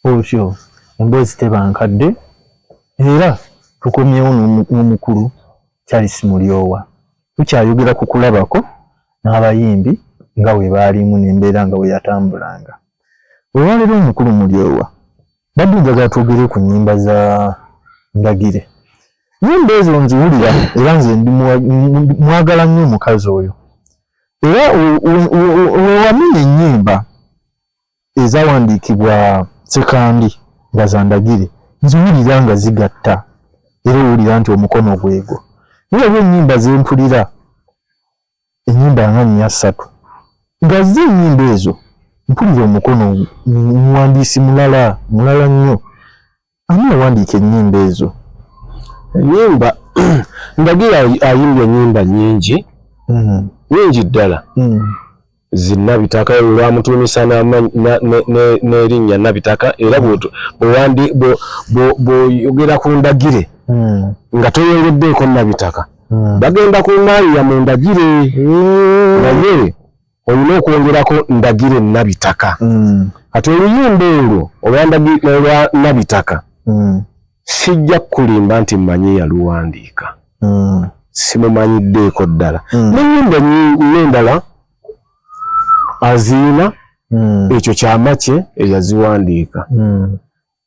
Otyo emboozi teba nkadde era tukomyewo n'omukulu Charles Mulyowa. Tukyayogera ku kulabako n'abayimbi nga bwe baalimu n'embeera nga bwe yatambulanga. Olwaleero omukulu Mulyowa mbadde njagala twogere ku nnyimba za Ndagire. Nnyimba ezo nziwulira era nze mwagala nnyo omukazi oyo. Era wewamenya ennyimba ezawandiikibwa sekandi nga zandagire nziwulira nga zigatta era owulira nti omukono gwego naye oba ennyimba zempulira ennyimba nga nnya ssatu nga ze ennyimba ezo mpulira omukono muwandiisi mulala mulala nnyo ani yawandiika ennyimba ezo ennyimba ndagira ayimbye ennyimba nyingi hmm. nyingi ddala hmm. zinabitaka lwamutuumisa n'erinnya nabitaka era bwoyogera ku ndagire hmm. nga toyongeddeeko nabitaka bagenda ku maaliya mu ndagire naye olina okwongerako ndagire nabitaka mm. kati oluyimba olwo olwa nabitaka mm. sijja kukulimba nti mmanyi yaluwandiika mm. simumanyiddeeko ddala nayimba nendala aziina ekyo kyamaki eyaziwandiika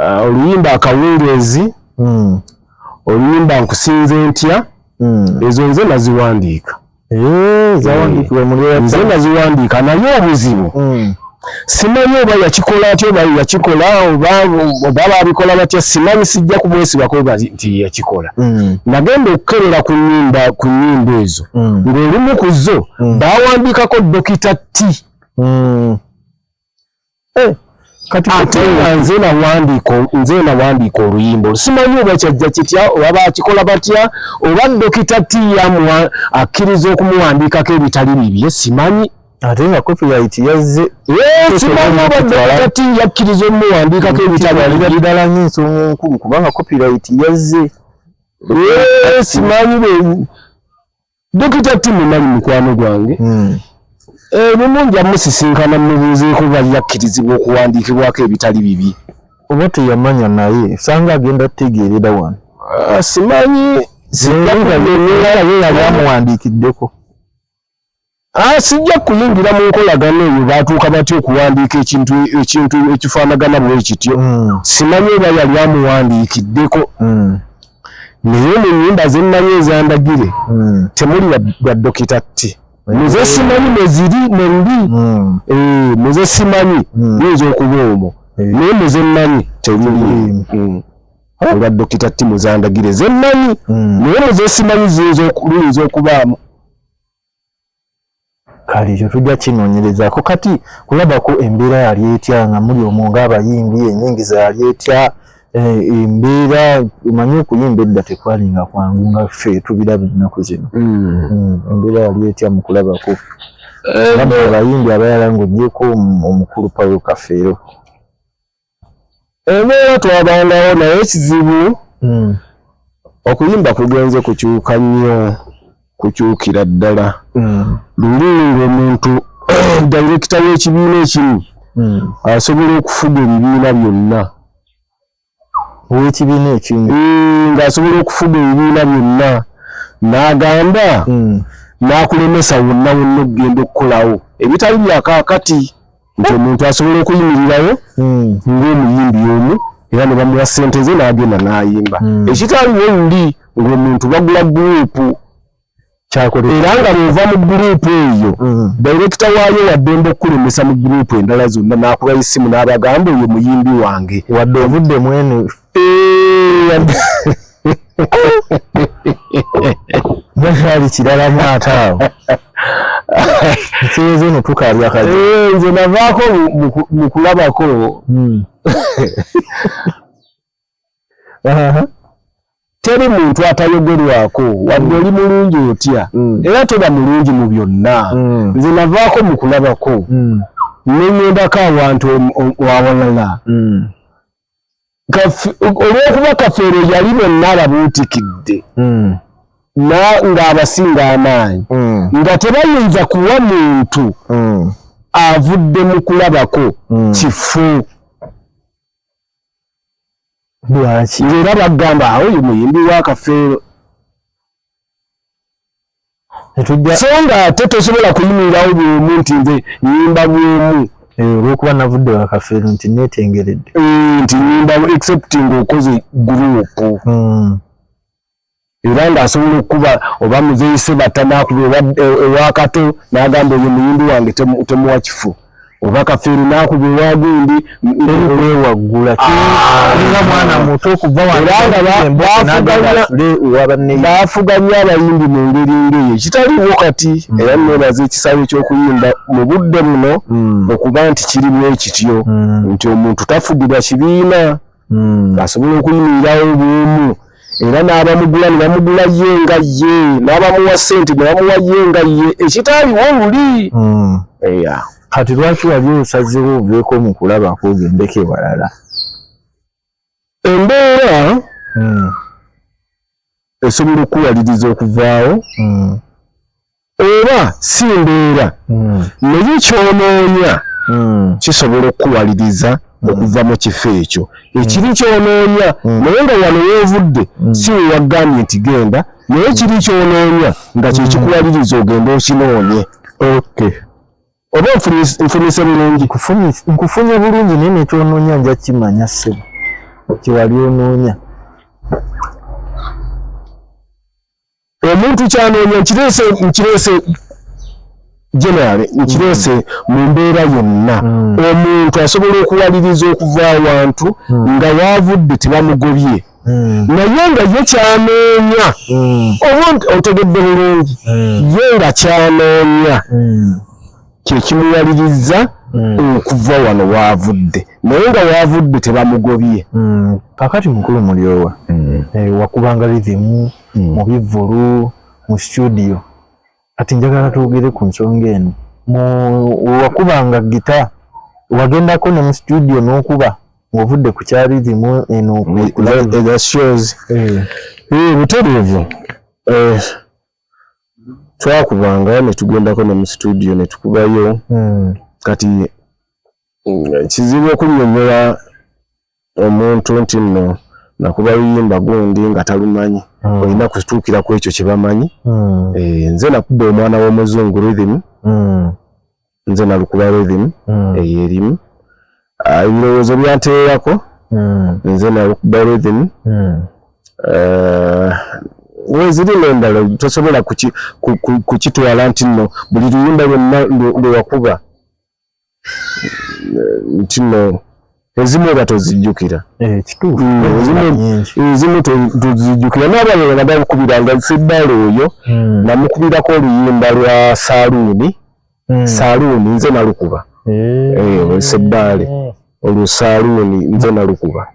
ah, oluyimba akawungeezi hmm. oluyimba nkusinze ntya hmm. ezo nze naziwandiika nze naziwandiika naye obuzibu hmm. simanyi oba yakikola atya oba yakikola oba babikola batya simanyi sijja kumwesibako nti yakikola mm. nagenda okukerera ku nyimba ku nyimba ezo mm. ng'olumu ku zo mm. bawandiikako dokita t eh, kati ate nga nze nawandiika nze nawandiika oluyimba olusimanyi oba kyajja kitya oba bakikola batya oba dokita tiyamu akkiriza okumuwandiikako ebitali bibye simanyi ate nga copyright yazze simanyi oba dokita ti yakkiriza omuwandiikako ebitali bibye ddala ng'ensonga enkulu kubanga copyright yazze simanyi Dokita Timo nali mukwano gwange hmm. ebimu eh, nja musisinkana mubuuzeeko bali yakkirizibwa okuwandiikibwako ebitali bibi oba teyamanya naye sanga agenda tutegeerera wano ah, simanyi yamuwandiikiddeko ah, sijja kuyingira mu nkolagana eyo baatuuka batya okuwandiika ekintu ekintu ekifaanagana bwe kityo hmm. simanyi oba yali amuwandiikiddeko hmm. naye mu nyumba zennayo ezandagire hmm. temuli bya dokita ti hmm. muze simanyi mweziri mwendi hmm. eh, muze simanyi yinza okuba omwo naye muze mmanyi temuli olwa dokita ti muzandagire zennayi naye muze simanyi ziyinza okubaamu kale ekyo tujja kinoonyerezaako kati kulabako embeera yali etya nga muli omwo ng'abayimbi enyingiza yali etya eh, embeera omanyi okuyimba edda tekwali nga kwangu nga ffe tubiraba ennaku zino hmm. Hmm, embeera yali etya mu kulabako eh, abayimbi abayala ng'ogyeko omukulu pawulo kafeero Embeera twabangawo naye ekizibu hmm. okuyimba kugenze kukyuka nnyo kukyukira ddala hmm. luli ngaomuntu direkita w'ekibiina ekimu hmm. asobola okufuga ebibiina byonna ow'ekibiina ekimu ng'asobola okufuga ebibiina byonna n'agamba n'akulemesa wonna wonna okugenda okukolawo ebitali byakakati nti omuntu asobola okuyimirirawo hmm. ng'omuyimbi omu era ne bamuwa ssente ze n'agenda n'ayimba hmm. ekitaliwo luli ng'omuntu bagula guruupu kyakola era nga bw'ova mu guruupu eyo hmm. dayirekita waayo waddembe okukulemesa mu guruupu endala zonna n'akuba essimu n'abagamba oyo muyimbi wange wadde ovudde mwene bakyali kirala mwata awo ekirezo no tukalya kati eh, nze navaako mu kulabako hmm. teri muntu atayogerwako wadde oli mulungi otya hmm. era toba mulungi mu byonna hmm. nze navaako mu kulabako nenyendako awantu awalala olw'okuba kafeero yali bonna ababuutikidde hmm. ng'abasinga amaanyi hmm. nga tebayinza kuwa muntu hmm. avudde mu kulabako kifu lwaki era bagamba awo ye muyimbi wa kafeero so nga ate tosobola kuyimirirawo bwomu nti nze nyimba bwomu eh, olwokuba navudde wakafeero nti netengeredde eh, nti nyimba except nga okoze gurupu hmm. era nga asobola okukuba oba muzeise batanakuba ewakato nagamba oyo muyimbi wange temuwa kifu oba kafeero nakuba ewagundi ewaggula nga mwana muto okuva baafuga nnyo abayimbi mu ngeri ngeyo kitaliwo kati hmm. era nebaza ekisawe ky'okuyimba mu budde buno hmm. okuba nti kirimu ekityo hmm. nti omuntu tafugirwa kibiina hmm. asobola okuyimirirawo bwomu era n'abamugula ne bamugula ye nga ye n'abamuwa ssente ne bamuwa ye nga ye ekitaaliwo luli hmm. kati lwaki wali osazewo oveeko mu kulaba kwogendeko ewalala embeera hmm. esobola okukuwaliriza okuvaawo oba si mbeera hmm. naye kyonoonya hmm. kisobola okukuwaliriza hmm. okuva mu kifo ekyo ekiri kyonoonya naye nga wano weevudde si wewagambye nti genda naye kiri kyonoonya nga kyekikuwaliriza ogenda okinoonye oba nfunise bulungi nkufunye bulungi naye nekyonoonya nja kimanya sebo kyewali onoonya omuntu kyanoonya nkireese nkireese generale nkireese mm. mu mbeera yonna mm. omuntu asobola okuwaliriza okuva awantu mm. nga waavudde tebamugobye naye nga ye kyanoonya omuntu otegedde bulungi ye nga kyanoonya kyekimuwalirizza hmm. okuva wano waavudde naye nga waavudde tebamugobye hmm. kakati mukulu mulyowa hmm. eh, wakubanga rithimu mu bivvulu mu situdiyo kati njagala twogere ku nsonga eno wakubanga gita wagendako ne mu situdiyo n'okuba ng'ovudde ku kya rithimu eno eh. butereevu eh, twakubanga ne tugendako ne mu situdiyo ne tukubayo hmm. kati mm, kizibu okunnyonnyola omuntu nti nno nakuba luyimba gundi nga talumanyi hmm. olina kutuukira ku ekyo kye bamanyi hmm. eh, nze nakuba omwana w'omuzungu rhythm nze nalukuba rhythm mm. eyo erimu ah, ebirowoozo byanteerako mm. nze nalukuba rhythm mm. eh, weziri nendala tosobola kukitwala nti no buli luyimba lwonna lwewakuba eh, nti no ezimu oba tozijjukira eh, ezimu tozijjukira nabalala nabakubiranga fedala oyo namukubirako oluyimba lwa saluuni mm. saluuni nze nalukuba eh. eh, seddaale mm. olwo saluuni nze nalukuba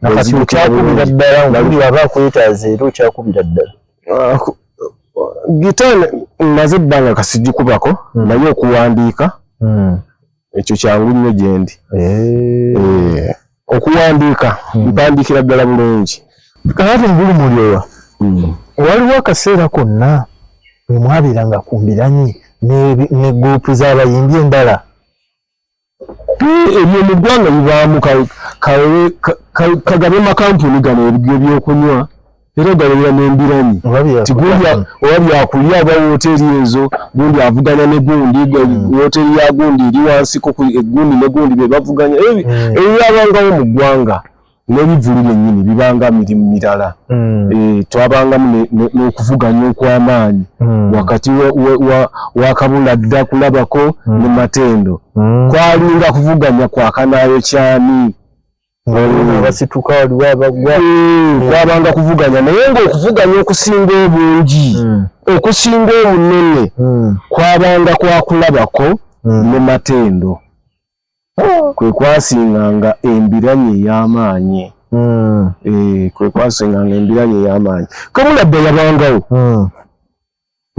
okyakubira ddala oli aba akwetaaza era okyakubira ddala ah, gita maze ebbanga kasigikubako mm. naye okuwandiika mm. ekyo kyangu nnyo gyendi eh. okuwandiika hmm. mpandiikira ddala bulungi kakati mugulu mulyowa hmm. waliwo akaseera konna mwe mwabeeranga ku mbiranyi ne gurupu z'abayimbi endala ebyo mu ggwanga bibaamu kagabye makampuni gano ebyo ebyokunywa era ogabanira n'embiranyi ti gundi oba byakulya aba wooteeri ezo gundi avuganya ne gundi hmm. wooteeri ya gundi eri wansiko eh, gundi ne gundi be bavuganya ebyabangawo hmm. mu ggwanga n'ebivulu byennyini bibanga mirimu mirala hmm. eh, twabangamu n'okuvuganya okw'amaanyi wakati wa kabula dda kulabako ne matendo kwalinga kuvuganya kwakanayo kyani abasituka waliwo abagwa kwabanga hmm. kuvuganya naye ngaokuvuganya okusinga obungi hmm. okusinga obunene hmm. kwabanga kwakulabako ne matendo oh. kwe kwasinganga embiranye ey'amaanyi eh, kwe kwasinganga embiranye ey'amaanyi kamulabba yabangawo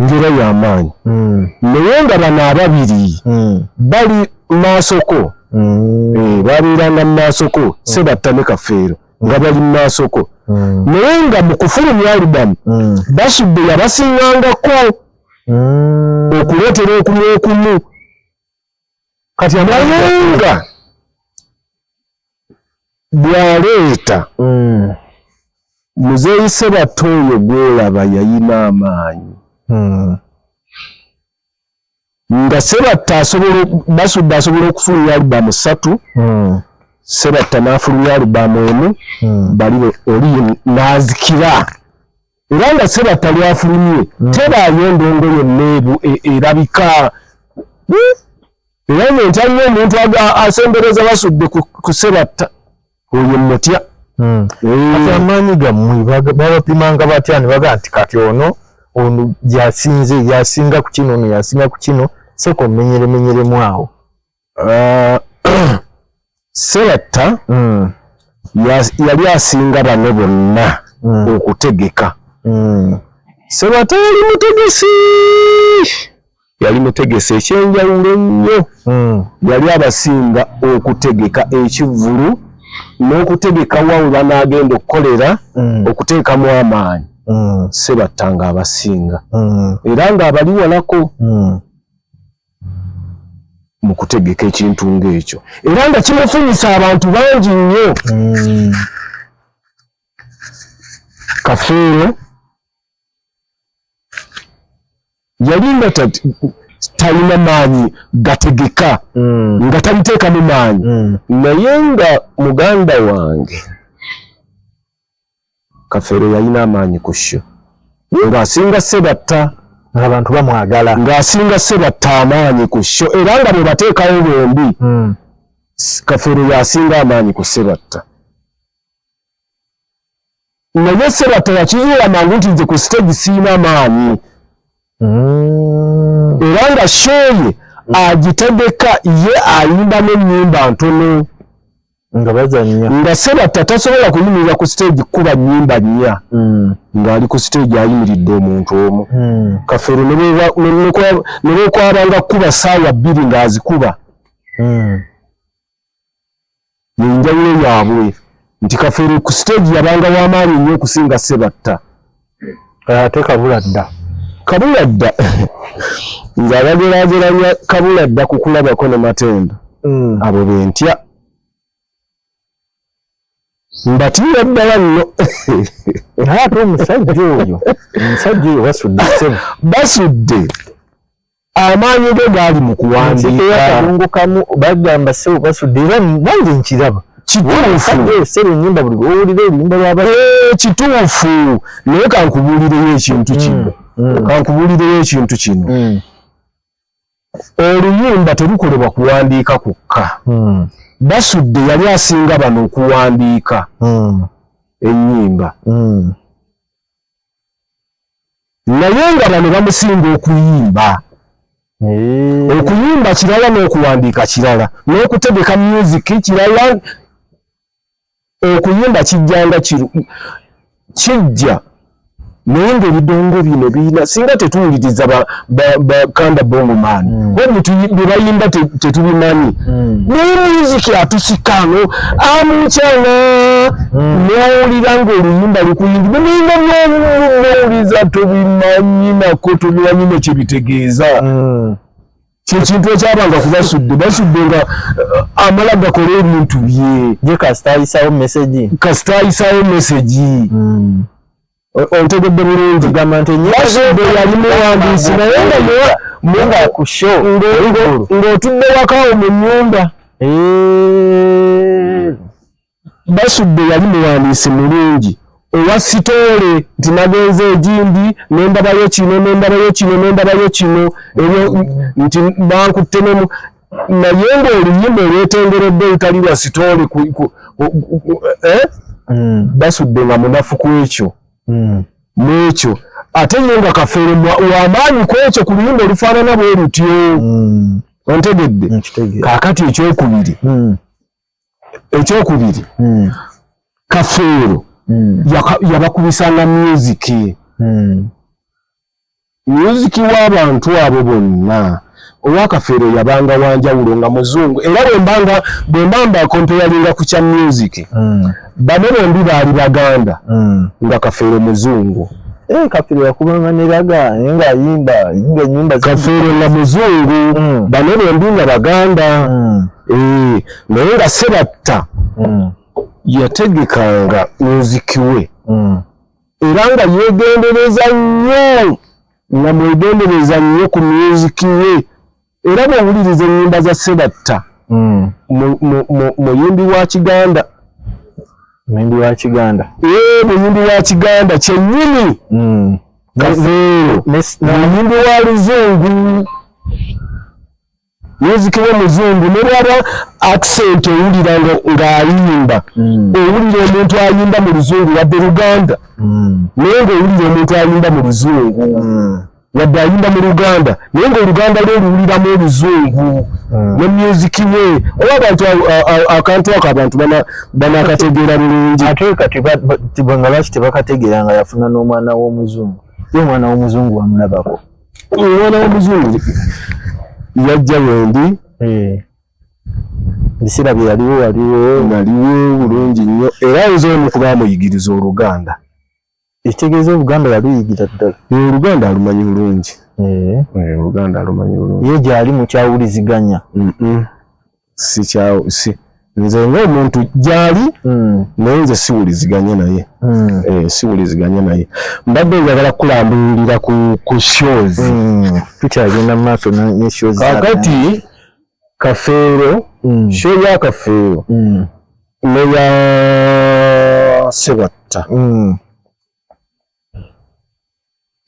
ngera ya maanyi mm. naye nga bano ababiri mm. bali maasoko mm. e, eh, babeeranga mu maasoko mm. sebatta ne kafeero nga mm. bali mu maasoko mm. naye nga mu kufulumya alubamu mm. basubbe yabasingangako mm. okuleetera okumu okumu kati amayenga bwaleeta mm. muzeeyi sebatta oyo gwolaba yayina amaanyi mm. nga sebatta asobola basudde asobola okufulumya alubamu ssatu mm. sebatta n'afulumya alubamu emu bali oli nazikira era nga sebatta lwafulumye hmm. tebaayo endongo yonna ebu e, erabika hmm? era nga enkyaliyo omuntu asembereza basudde ku sebatta oyo mutya hmm. eh. kati amaanyi gammwe babapimanga batya ne bagaa nti kati ono ono yasinze yasinga ku kino ono yasinga ku kino sooka omenyeremenyeremu awo ah, sebatta mm. yali asinga bano bonna mm. okutegeka mm. sebatta yali mutegesi yali mutegesi ekyenjawulo ennyo mm. yali abasinga okutegeka ekivulu n'okutegeka wa we banaagenda okukolera mm. okuteekamu amaanyi mm. sebatta ng'abasinga mm. era ng'abali walako mm. mu kutegeka ekintu ng'ekyo era nga kimufunyisa abantu bangi nnyo mm. kafeero yali nga talina maanyi gategeka mm. nga taliteekamu maanyi mm. naye nga muganda wange kafeero yalina amaanyi ku sho ng'asinga sebatta ngaabantu bamwagala ng'asinga sebatta amaanyi ku sho era nga bwe bateekawo bombi hmm. kafeero yasinga amaanyi ku sebatta naye sebatta yakizuula mangu nti nze ku siteegi siina maanyi mm. era nga shooye mm. agitegeka ye ayimba n'ennyimba ntono nga bazanya nga sebatta tasobola kuyimirira ku siteegi kukuba nnyimba nnya mm. ng'ali ku siteegi ayimiridde omuntu omu kafeero ne bwekwabanga kukuba ssaawa bbiri ng'azikuba yenjawulo yaabwe nti kafeero ku siteegi yabanga w'amaanyi nnyo okusinga ssebatta eh, ate kabula dda kabula dda nga bagerageranya kabula dda ku kulabako ne matendo hmm. abo bentya mbatiira ddala nno naye ate omusajja oyo omusajja oyo basudde basudde amaanyi ge gaali mu kuwandiikakadongokamu bagamba sebo basudde era nange nkiraba kituufuenyimba buli owulira oluyimba lwaba eh, kituufu naye kankubuulireyo ekintu kino mm, mm. kankubuulireyo ekintu kino mm. oluyimba terukolebwa kuwandiika kwokka basudde yali asinga bano okuwandiika enyimba naye nga bano bamusinga okuyimba eh. okuyimba kirala n'okuwandiika kirala n'okutegeka myuziki kirala okuyimba kijjanga kijja naye ng'ebidongo bino birina singa tetuwuliriza bakanda bongo man mm. wabuli byebayimba tetubimanyi mm. naye muziki atusikano amucana mm. nowulira nga oluyimba lukuyingibe nayinga byowuliza tubimanyi nako tubimanyi nekyebitegeeza mm. kyekintu ekyabanga kubasudde basudde nga uh, amala gakola ebintu bye kasita ayisawo mesegi mm. otegedde bulungi gamba nti nyasudde yali muwandiisi naye nga muwa munga ku show ng'otudde wakawo mu nyumba basudde yali muwandiisi mulungi owa sitoole nti nagenze egindi nendabayo kino nendabayo kino nendabayo kino ebyo nti bankutte nemu naye ng'oluyimba olwetengeredde olutali lwa sitoole eh? hmm. basudde nga munafu ku ekyo hmm. n'ekyo ate ye nga kafeero wamaanyi ku ekyo ku luyimba olufaanana bwe lutyo hmm. ontegedde kaakati ekyokubiri ekyokubiri hmm. kafeero hmm. yabakubisanga myuziki hmm. myuziki w'abantu abo bonna owakafeero yabanga wanjawulo nga muzungu era wembanga bwemba mbakompeyalinga ku kya myuziki bano bombi baali baganda nga kafeero muzungu Eh, kafiro yakubanga neraga naye nga ayimba nga enyimba kafiro nga muzungu mm. bano bombi nga baganda mm. Eh, naye nga sebatta mm. yategekanga nzikiwe mm. era nga yegendereza nnyo nga mwegendereza nnyo ku myuziki ye era bwowuliriza ennyimba za sebatta mm. muyimbi wa kiganda muyimbi wa kiganda eh, muyimbi wa kiganda kyennyini muyimbi wa luzungu music wa muzungu ne bwaba accent owulira nga ayimba mm. owulira omuntu ayimba mu luzungu wadde luganda mm. naye nga owulira omuntu ayimba mu luzungu mm. wadde ayimba mu luganda naye nga oluganda lwe oluwuliramu oluzungu ne music we oba abantu akantu ako abantu banakategeera bulungi ate kati nga lwaki tebakategeera nga yafuna n'omwana w'omuzungu ye omwana w'omuzungu wamulabako omwana w'omuzungu yajja wendi eh. ebiseera bye yaliwo waliwo naliwo bulungi nnyo era nze omu kuba amuyigiriza oluganda ekitegeeza oluganda yaluyigira ddala oluganda alumanyi bulungi oluganda alumanyi bulungi ye gyali mukyawuliziganya sikyawo si nze ng'omuntu gyali hmm. naye nze siwuliziganye naye hmm. eh, siwuliziganye naye mbadde njagala kukulambululira ku shows hmm. tukyagenda mu maaso ne shows kakati kafeero show ya kafeero neya sebatta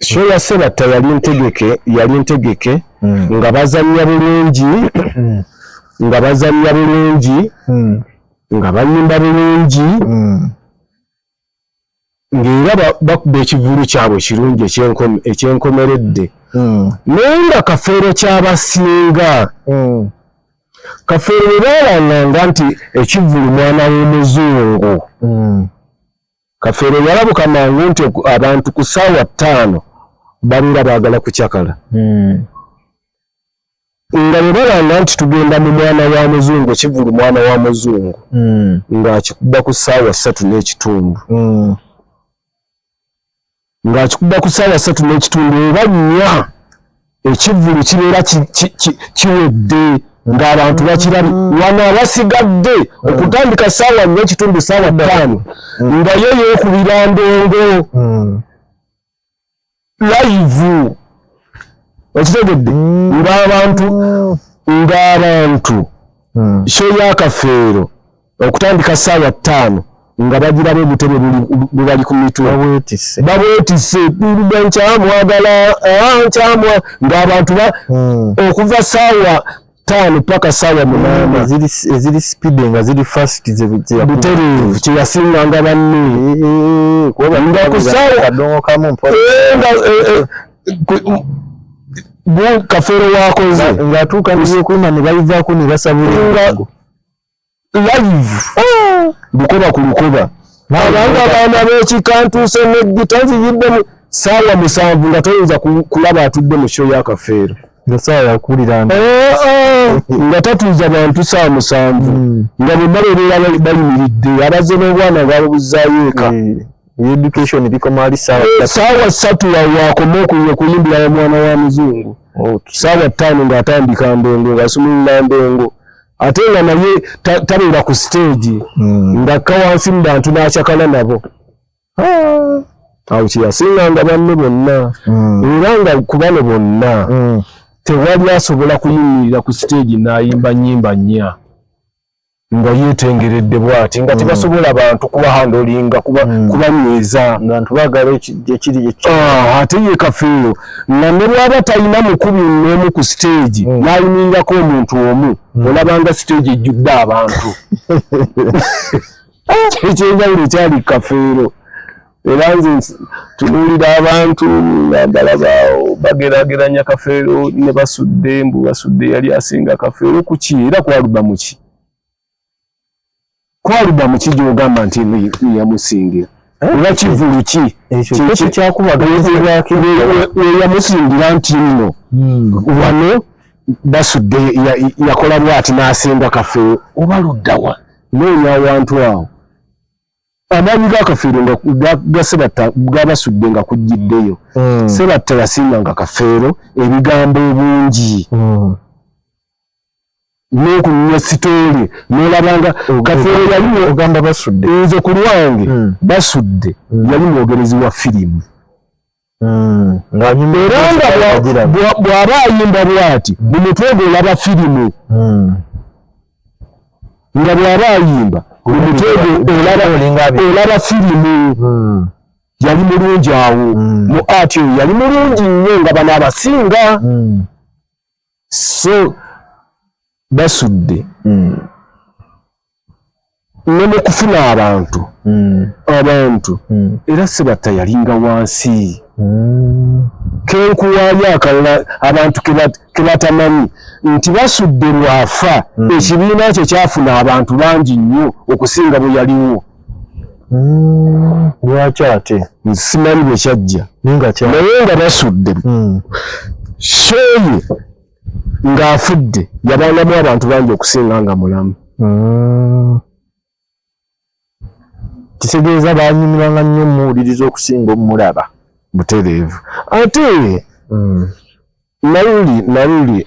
show ya sebatta yali ntegeke yali ntegeke mm. nga bazanya bulungi mm. nga bazanya bulungi mm. nga bayimba bulungi mm. ng'era bakuba ekivulu kyabwe ekirungi ekyenkomeredde hmm. naye nga kafeero kyabasinga hmm. kafeero baalanganga nti ekivulu mwana w'omuzungu hmm. kafeero yalabuka mangu nti abantu ku saawa ttaano babeera baagala kucakala hmm. nga bwebalanga nti tugenda mu mwana wa muzungu kivulu mwana wa muzungu hmm. ng'akikuba ku saawa ssatu n'ekitundu hmm. ng'akikuba ku ssaawa ssatu n'ekitundu oba nnya ekivvulu kibeera kiwedde ng'abantu bakirabi mm. wano abasigadde mm. okutandika ssaawa nnya ekitundu ssaawa mm. ttaano nga yo yeekubira ndongo layivu okitegedde ng'abantu ng'abantu kyo yakafeero okutandika saawa ttaano nga bagiraba obutebe bubali ku mitwe babwetise nkyamwagala ah, nkyamwa ngaabantu hmm. okuva saawa taano paka saawa munaana eziri sipide nga ziri fast butereevu kyeyasinga nga banne nga kusaawa kafeero wakoze ngaatuuka nkuima nebayivaako nebasabula live lukoba ku lukoba abantu abaana b'ekika ntuuse n'eggita nziyiddemu saawa musanvu nga toyinza kulaba atudde mu show yakafeero nga saawa yakulira eh, eh. nga tatuuza bantu saawa musanvu hmm. nga bonna bebeera bayimiridde abazze n'obwana nga babuzaayo eka hmm. education bikomali saawa eh, ssatu waakoma okuyimbira omwana wa muzungu saawa ttaano ng'atandika ndongo ng'asumulula ndongo ate nga naye tabeera ku siteegi hmm. ngakka wansi mu bantu n'acakala nabo ah. awo kyeyasinganga banne bonna hmm. era nga ku bano bonna hmm. tewali asobola kuyimirira ku siteegi n'ayimba nyimba nnya nga yetengeredde bwati nga tebasobola bantu kuba handolinga kubanyweza ate ye kafeero nga ne bwaba talina mukubi n'omu ku siteegi hmm. n'ayimirirako omuntu omu hmm. olabanga siteegi ejjudde abantu ekyenjawulo ekyali kafeero era nze tunuulira abantu naddala bagerageranya kafeero ne basudde mbu basudde yali asinga kafeero kuki era kwaluba muki Kwalida mu kijja ogamba nti eno yamusingira oba eh? kivulu ki ekyokyakubagaeyamusingira nti nno hmm. wano basudde yakola bwati n'asenga kafeero oba luddawa noonya awantu awo amaanyi ga kafeero nga ga sebatta gabasudde nga kujjiddeyo hmm. sebatta yasiimanga kafeero ebigambo obungi hmm. nokunya sitoli nolabanga kafeero yalimu ogamba basudde nze ku lwange hmm. basudde hmm. yali mwogerezi wa firimu hmm. era nga bw'aba ayimba bwati mu mutwe gwe olaba firimu nga bw'aba ayimba mu mutwe gwe olaba firimu yali mulungi awo mu ati oyo yali mulungi nnyo nga bano abasinga so basudde mm. ne mu kufuna abantu mm. abantu mm. era sebatta yalinga wansi mm. kenkuwaayo akalala abantu kebatamanyi nti basudde lwafa mm. ekibiina kye kyafuna abantu bangi nnyo okusinga bwe yaliwo Hmm, lwaki ate simanyi bwe kyajja naye nga basudde hmm. sheeyi ng'afudde yabangamu abantu bangi okusinga nga mulamu hmm. kitegeeza banyumiranga nnyo omuwuliriza okusinga omulaba butereevu ate naluli naluli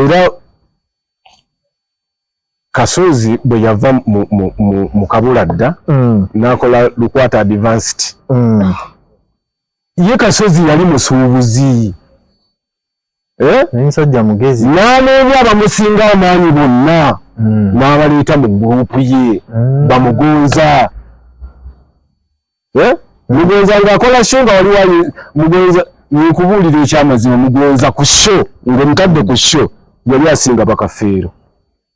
era kasozi bwe yava mu kabula dda mm. n'akola lukwata advanced mm. ye kasozi yali musuubuzi eh? nsajja mugezi n'aneebyo abamusinga amaanyi bonna mm. n'abaleeta mu gurupu ye bamugonza eh? mugonza ng'akola sho nga waliwo mugonza nkubuulira ekyamazima mugonza ku sho ng'omutadde ku sho yali asinga bakafeero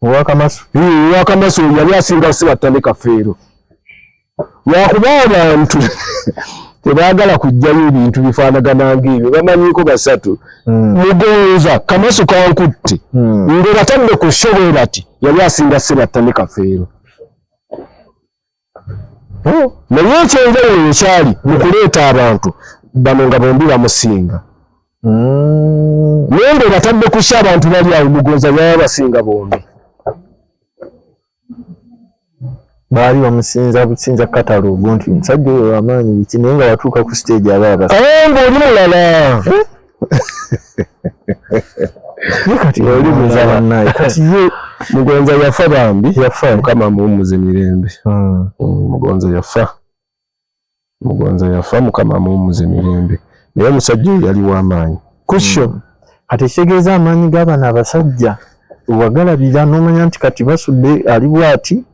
owakamaso owakamaso yali asinga sibattane kafeero lwakuba abantu tebaagala kujjayo ebintu bifaanagana ng'ebyo bamanyiiko basatu hmm. mugonza kamaso kankutte hmm. ng'obatadde ku sho bwe bati yali asinga sibattane kafeero naye ekyenjawulo wekyali mukuleeta abantu bano nga bombi bamusinga mm. naye nga obatadde kusi abantu bali awo mugonza yaya basinga bombi baali bamusinza businza katalogo nti omusajja oyo wamaanyi biki naye nga watuuka ku stage aba abas nga oli mulala eh? mugonza yafa bambi yafa mukama muwumuze mirembe hmm. hmm, mugonza yafa mugonza yafa mukama muwumuze mirembe naye omusajja oyo yali wamaanyi kusho hmm. kati ekitegeeza amaanyi g'abana abasajja wagalabira n'omanya nti kati basudde ali bwati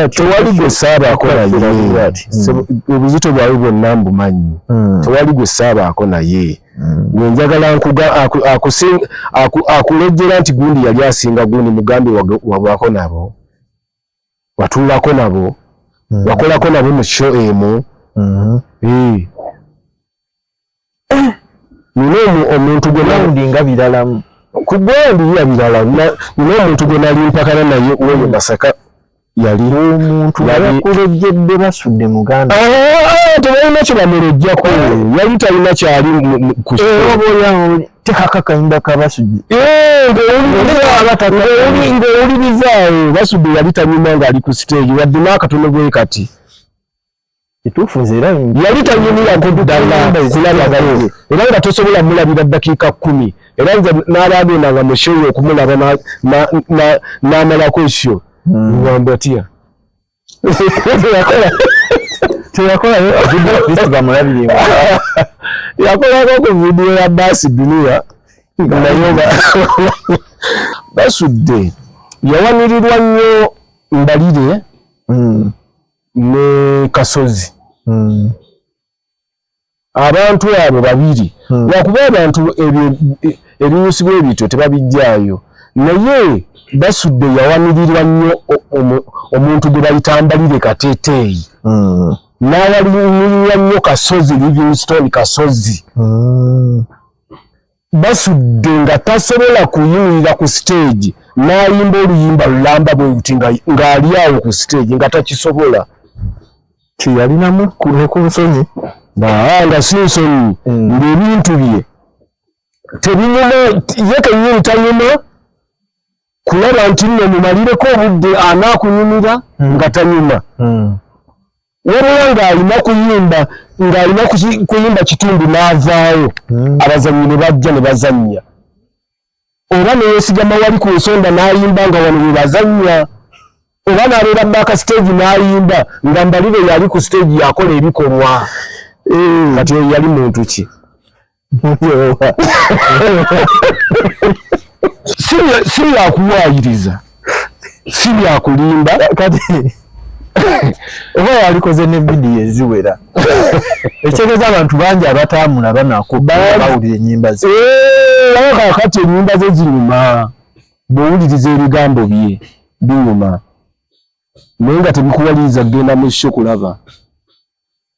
tewali gwe saabaako eh, hmm. naye obuzito bwawe bwonna mbumanyi hmm. tewali gwe saabaako naye gwe hmm. njagala akulejjera nti gundi yali asinga gundi mugambi wabwako nabo watuulako nabo wakolako nabo mu kyo emu eh. nina omuntu gwe nawundi nga biralamu ku gwandi ya birala nina omuntu gwe nali mpakana naye woyo masaka yali omuntu yakulejjedde basudde muganda ah, ah, ah, tebalina kye bamulejjako yali talina kyali kutekakakayimba eh, kabasudde eh, ng'owulirizaawo basudde yali tanyuma ng'ali ku siteegi wadde n'akatono gwe kati kituufu nze era yali tanyumyako ddala kulabaganye era nga tosobola mulabira ddakiika kkumi era nze n'abagenda nga mushoyo okumulaba n'amalako ekyo ngamba hmm. tya teyakolayo yakolako ku vidiyo ya baasi duniya naye nga basudde yawanirirwa nnyo mbalire hmm. ne kasozi hmm. abantu abo babiri hmm. lwakuba abantu ebinyusibwa ebityo tebabijjaayo naye basudde yawanirirwa nnyo omuntu gwe bayita mbalire kateteeyi hmm. n'awalimirira nnyo kasozi livingstone kasozi basudde nga tasobola kuyimirira ku siteegi n'ayimba oluyimba lulamba bwe luti ng'ali awo ku siteegi nga takisobola kyeyalinamu ne ku nsonyi nga si nsonyi hmm. ng'ebintu bye tebinyuma ye kennyini tanyuma kulaba nti nno mumalireko obudde anaakunyumira hmm. nga tanyuma hmm. wabula ng'alina kuyimba ng'alina kuyimba kitundu n'avaawo hmm. abazannyi ne bajja ne bazannya oba neyesigama wali ku nsonda n'ayimba nga wano we bazannya oba n'abeera baaka siteegi n'ayimba nga mbalire yali ku siteegi yakola ebikolwa eh. kati oyo yali muntu ki si byakuwaayiriza si byakulimba kati oba yalikoze ne vidiyo eziwera ekitegeeza abantu bangi abatambula banako bawulira enyimba ze eh, kakati enyimba ze zinyuma bwowuliriza ebigambo bye binyuma naye nga tebikuwaliriza kugenda mu sho kulaba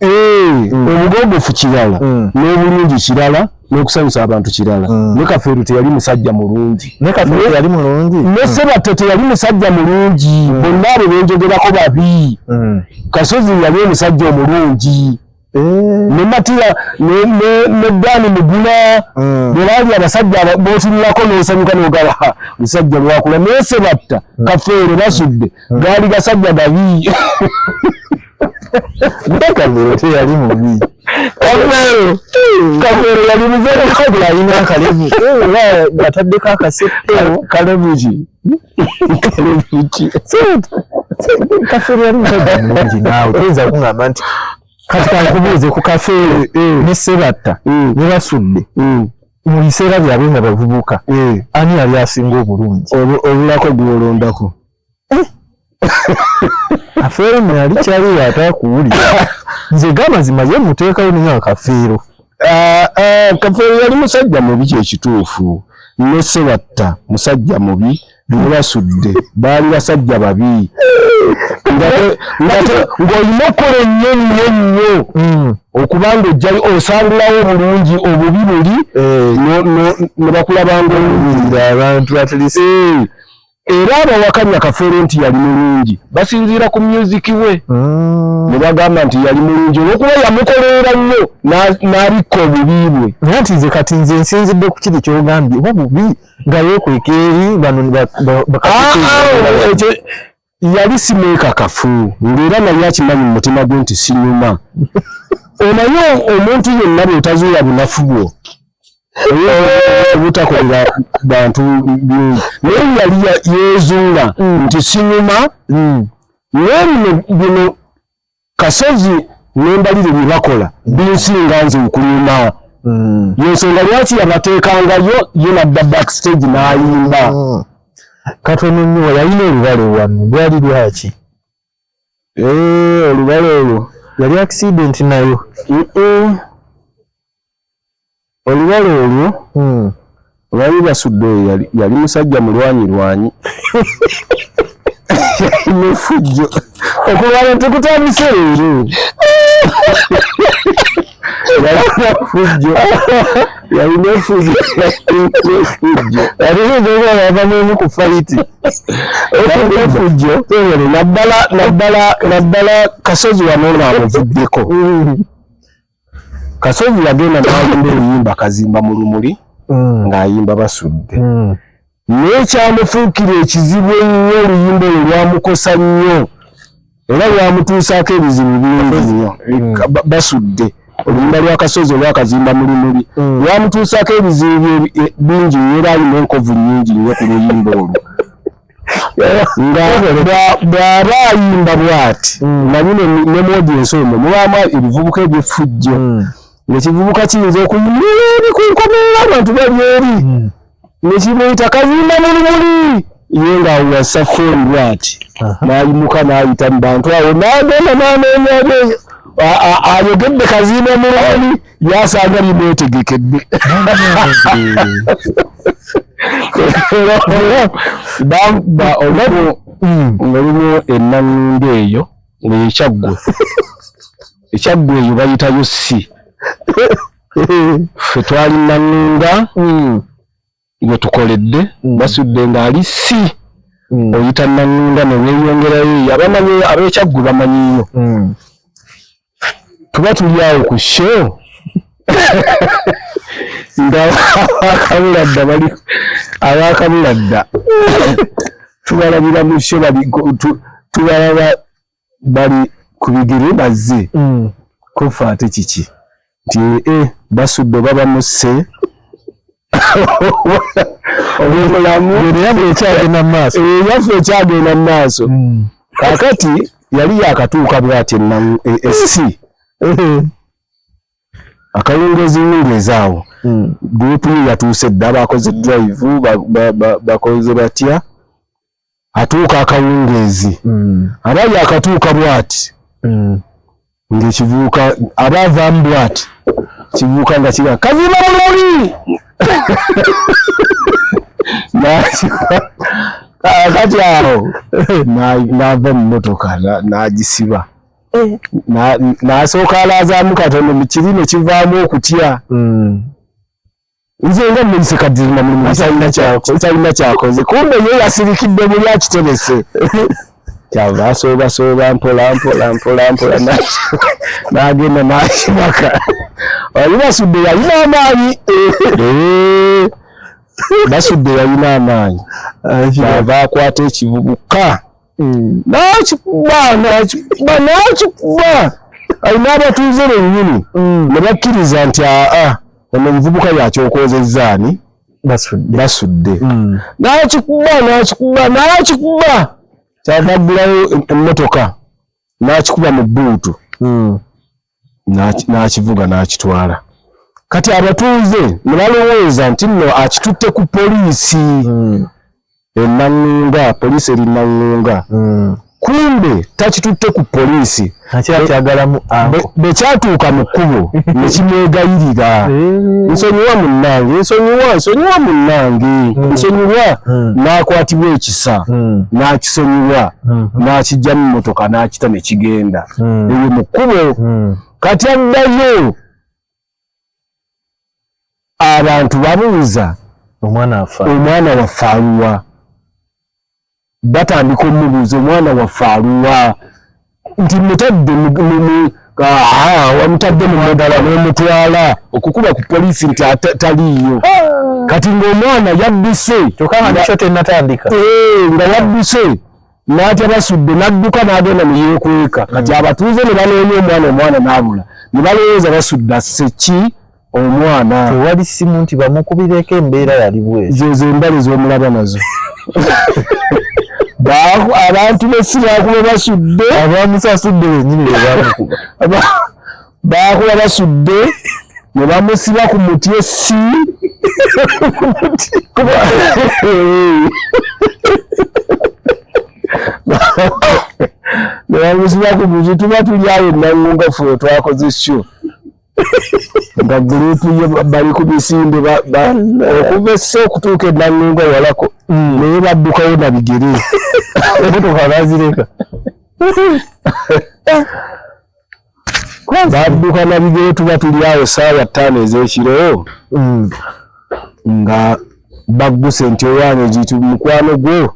Eh, mm. obugogofu kirala mm. n'obulungi kirala n'okusanyusa abantu kirala mm. ne kafeero teyali musajja mulungi ne kafeero yali mulungi ne sebatta teyali musajja mulungi bonna abo benjogerako babi kasozi yali omusajja omulungi eh. ne matiya ne dani muguna bwe baali abasajja botunulako n'osanyuka n'ogaba musajja lwakula naye sebatta kafeero basudde hmm. gaali gasajja gabi ndakavero teyali mubi kavero kavero yali muzere kabula alina akalevu ataddeko akasepewo kalevu ki kalevu ki kafeero yali musajja mulungi naawe toyinza kungamba nti kati kankubuuze ku kafeero eh, eh. ne sebatta ne basudde eh. mu biseera byabwe nga bavubuka eh. ani yali asinga obulungi obulako gwolondako eh. afeero nali kyali yatakuwulira nze gamazima ye muteekayo ninga akafeero ah, ah, kafeero yali musajja mubi kyekituufu ne sebatta musajja mubi bebasudde baali basajja babi ng'olina okukola ennyo nnyo nnyo hmm. okuba ng'ojjayo osangulawo obulungi obubi buli eh. ne bakulabanga obulungi abantu atlisi eh. era abawakanya kafeero nti yali mulungi basinziira ku myuziki we hmm. ne bagamba nti yali mulungi olwokuba yamukoleera nnyo n'abikka obubi bwe naye nti nze kati nze nsinzidde ku kiri kyogambye oba bubi nga yekweka eri bano yali simwekakafu ngaera naye akimanyi mu mutima gwe nti sinyuma onaye omuntu yenna bwotazuula bunafu bwo obutakolera bantu bingi naye yali yezuula mm. nti sinyuma mm. naye bino kasozi nembalire byebakola binsinga nze okulima hmm. yensonga lwaki yabateekangayo ye nadda backstage nayimba hmm. katono nyo yalina olubale wano lwali lwaki eh, olubale olwo yali accident nayo Olubale olwo hmm. baali basudde oyo yali musajja mulwanyirwanyi nefujjo okulwala tekutandise leero yalifujjo yalina efujjo yaliaava mumu ku faiti yalina efujjo naddala naddala naddala kasozi wano ngaamuvuddeko Kasozi yagenda n'ayimba oluyimba kazimba mu lumuli mm. ng'ayimba basudde mm. naye kyamufuukira ekizibu ennyo oluyimba olwo lwamukosa nnyo era lwamutuusaako ebizibu bingi nnyo mm. basudde oluyimba lwa kasozi olwakazimba mu lumuli lwamutuusaako ebizibu e, bingi nnyo era alina enkovu nnyingi nnyo ku luyimba olwo nga bw'aba ayimba bw'ati mm. nabyo ne moodi ensi omwo mubaamu ebivubuka eby'effujjo mm. nekivubuka kiyinza okuyimira eri ku nkomerera abantu bali eri mm. nekimuyita kazimba mu lumuli ye ng'awo yassa fooni bw'ati n'ayimuka n'ayita mu bantu awo n'agenda n'anoonya ayogedde kazimba mu lumuli yasanga limwetegekedde olwaliwo hmm. enangunda eyo ngayo ekyaggwe ekyaggwe eyo bayitayo si fe twali nangunda hmm. gwetukoledde mm. basudde ng'ali si mm. oyita naŋŋunda ne weeyongerayo eyo abamanyi ab'ekyaggwe bamanyiyo mm. tuba tuli awo ku show nga abakabuladda bali abakabuladda tubalabira mu show tubalaba bali ku bigere bazze mm. kofa ate kiki nti e basudde oba bamusse obulamu yaffe ekyagenda mu maaso eh, yaffe ekyagenda mu maaso mm. kakati yali yakatuuka bwati enansi e, e, akawungeezi wungeezi awo mm. gurupu ye yatuuse dda bakoze drive bakoze batya atuuka akawungeezi mm. aba yakatuuka bwati mm. ngaekivuuka aba avaamu bwati kivuuka nga kiga kazima mulumuli kati awo nava mumotoka nagisiba eh. nasooka alaazamu katono kirino kivaamu okutya mm. nze nga muyise kadima mulimutalina kyakoze kumbe ye yasirikidde muli akiterese kyava asoobasooba mpola mpola mpola mpola nagenda nakimaka wali basudde yalina amaanyi basudde yalina amaanyi ava akwata ekivubuka nakikuba nakikuba nakikuba alina abatuuze bennyini mm. ne bakkiriza nti aa ono omuvubuka yakyokozezza ani basudde mm. nakikuba nakikuba nakikuba kyavaggulayo emmotoka nakikuba mu bbuutu mm. n'akivuga n'akitwala kati abatuuze ne balowooza nti nno akitutte ku poliisi hmm. enaŋŋunga poliisi eri naŋŋunga hmm. kumbe takitutte ku poliisi bwe kyatuuka mu kkubo ne kimwegayirira eh. nsonyiwa munnange nsonyiwa nsonyiwa munnange hmm. nsonyiwa n'akwatibwa ekisa n'akisonyiwa n'akijja mu mmotoka n'akita ne kigenda hmm. eyo mu kkubo hmm. kati addayo abantu babuuza omwana waffe aluwa batandika omubuuza omwana waffe aluwa nti mutadde wamutadde mumudala nomutwala okukuba ku polisi nti taliiyo ah. kati ngaomwana yabbise nga yabbise n'atya basudde n'adduka n'agenda ne yeekweka kati hmm. abatuuze ne banoonya omwana omwana n'abula ne balowooza basudde asse ki omwana tewali simu nti bamukubireko embeera yali bwezi zezo embale z'omulaba nazo abantu b'essimu akuba basudde abamusasudde wenyini bebamukuba baakuba basudde ne bamusiba ku muti essi ne bamusiba ku muti tuba tuli awo enangunga fe twakoze sho nga gurupu ye bali ku misinde okuva esse okutuuka enangunga walako mm. naye baddukawo na bigere emotoka bazireka badduka na bigere tuba tuli awo saawa ttaano ez'ekiro mm. nga bagguse nti owange gitu mukwano gwo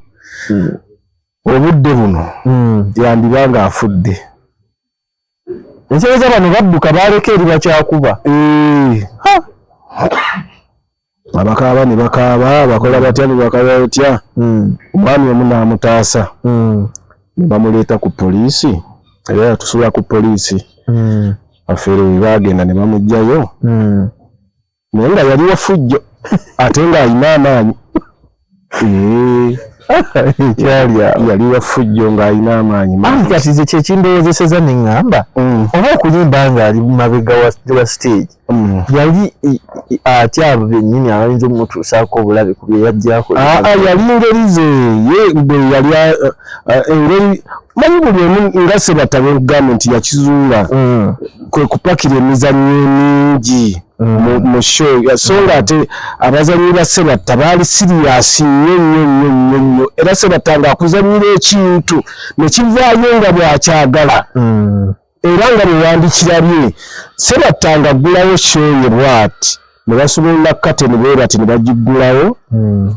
mm. obudde buno mm. yandiba nga afudde ensereza bano badduka baleka eri bakyakuba eh. abakaaba ne bakaaba bakola batya ne bakola batya hmm. omwami omu n'amutaasa hmm. ne bamuleeta ku poliisi era yatusula ku poliisi hmm. afeere we baagenda ne bamugjayo naye nga yali wafujjo ate ng'alina amaanyi yali wafujjo ng'alina amaanyi mangi kati ze kyekindowozeseza ne ŋŋamba mm. oba okuyimba ng'ali mabega wa stage mm. yali atya abo bennyini abayinza omutuusaako obulabe ku byeyajjako ah, ah, yali ngeri ze ye bwe yali ah, engeri manyi buli omu nga sebatabekugamba nti yakizuula mm. kwe kupakira emizannyo emingi mu show so nga ate abazannyi ba sebatta baali siriyasi nnyo nnyo nnyo nnyo nnyo era sebatta nga akuzannyira ekintu ne kivaayo nga bwakyagala mm. era nga bwewandikirabye sebatta nga aggulawo show ye bwati ne basumulula kateni bwe bati ne bagiggulawo mm.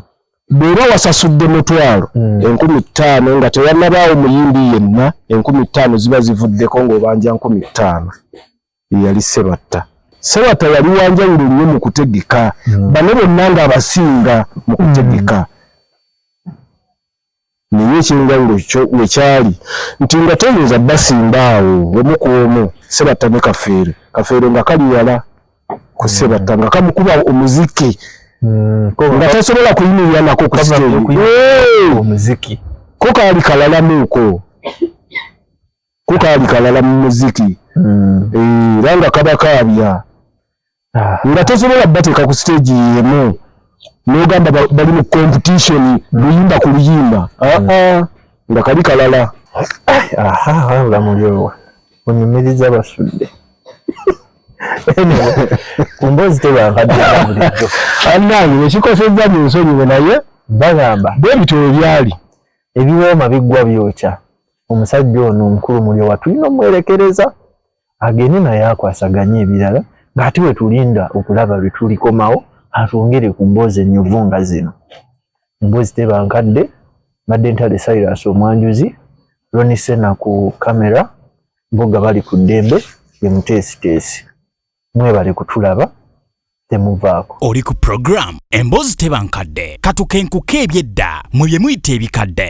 bw'oba wasasudde mutwalo mm. enkumi ttaano nga tewannabaawo muyimbi yenna enkumi ttaano ziba zivuddeko ng'obanja nkumi ttaano ye yali Ssebatta. Ssebatta yali wa njawulo nnyo mu kutegeka, hmm. bano bonna ng'abasinga mu hmm. kutegeka. Naye ekyenjawulo kyo we kyali nti nga toyinza basimba awo omu ku omu, Ssebatta ne Kafeero. Kafeero nga kali wala ku hmm. Ssebatta nga kamukuba omuziki nga tasobola kuyimirira nako ku siteegi. Ko kaali kalalamuuko. ko kaali kalala mu muziki hmm. eh, era nga kaba kaabya ah. nga tosobola bateeka ku siteegi yemu nogamba bali mu competition hmm. luyimba ku luyimba ah, hmm. ah. nga kali kalala olamulyowa onyumiriza basudde kumbozi tebankadbulijjo anange nekikosezza mu nsonyiwe naye bagamba bwebityo webyali ebiwooma biggwa byokya omusajja ono omukulu mulyowa tulina omwerekereza agende naye akwasaganye ebirala ng'ate wetulinda okulaba lwe tulikomawo atwongere ku mboozi ennyuvu nga zino emboozi teba nkadde mbadde ntale sirus omwanjuzi ronisena ku kamera mbuga bali ku ddembe emuteesiteesi mwebale kutulaba temuvaako oli ku puroguramu emboozi teba nkadde katukenkuka ebyedda mwe bye muyita ebikadde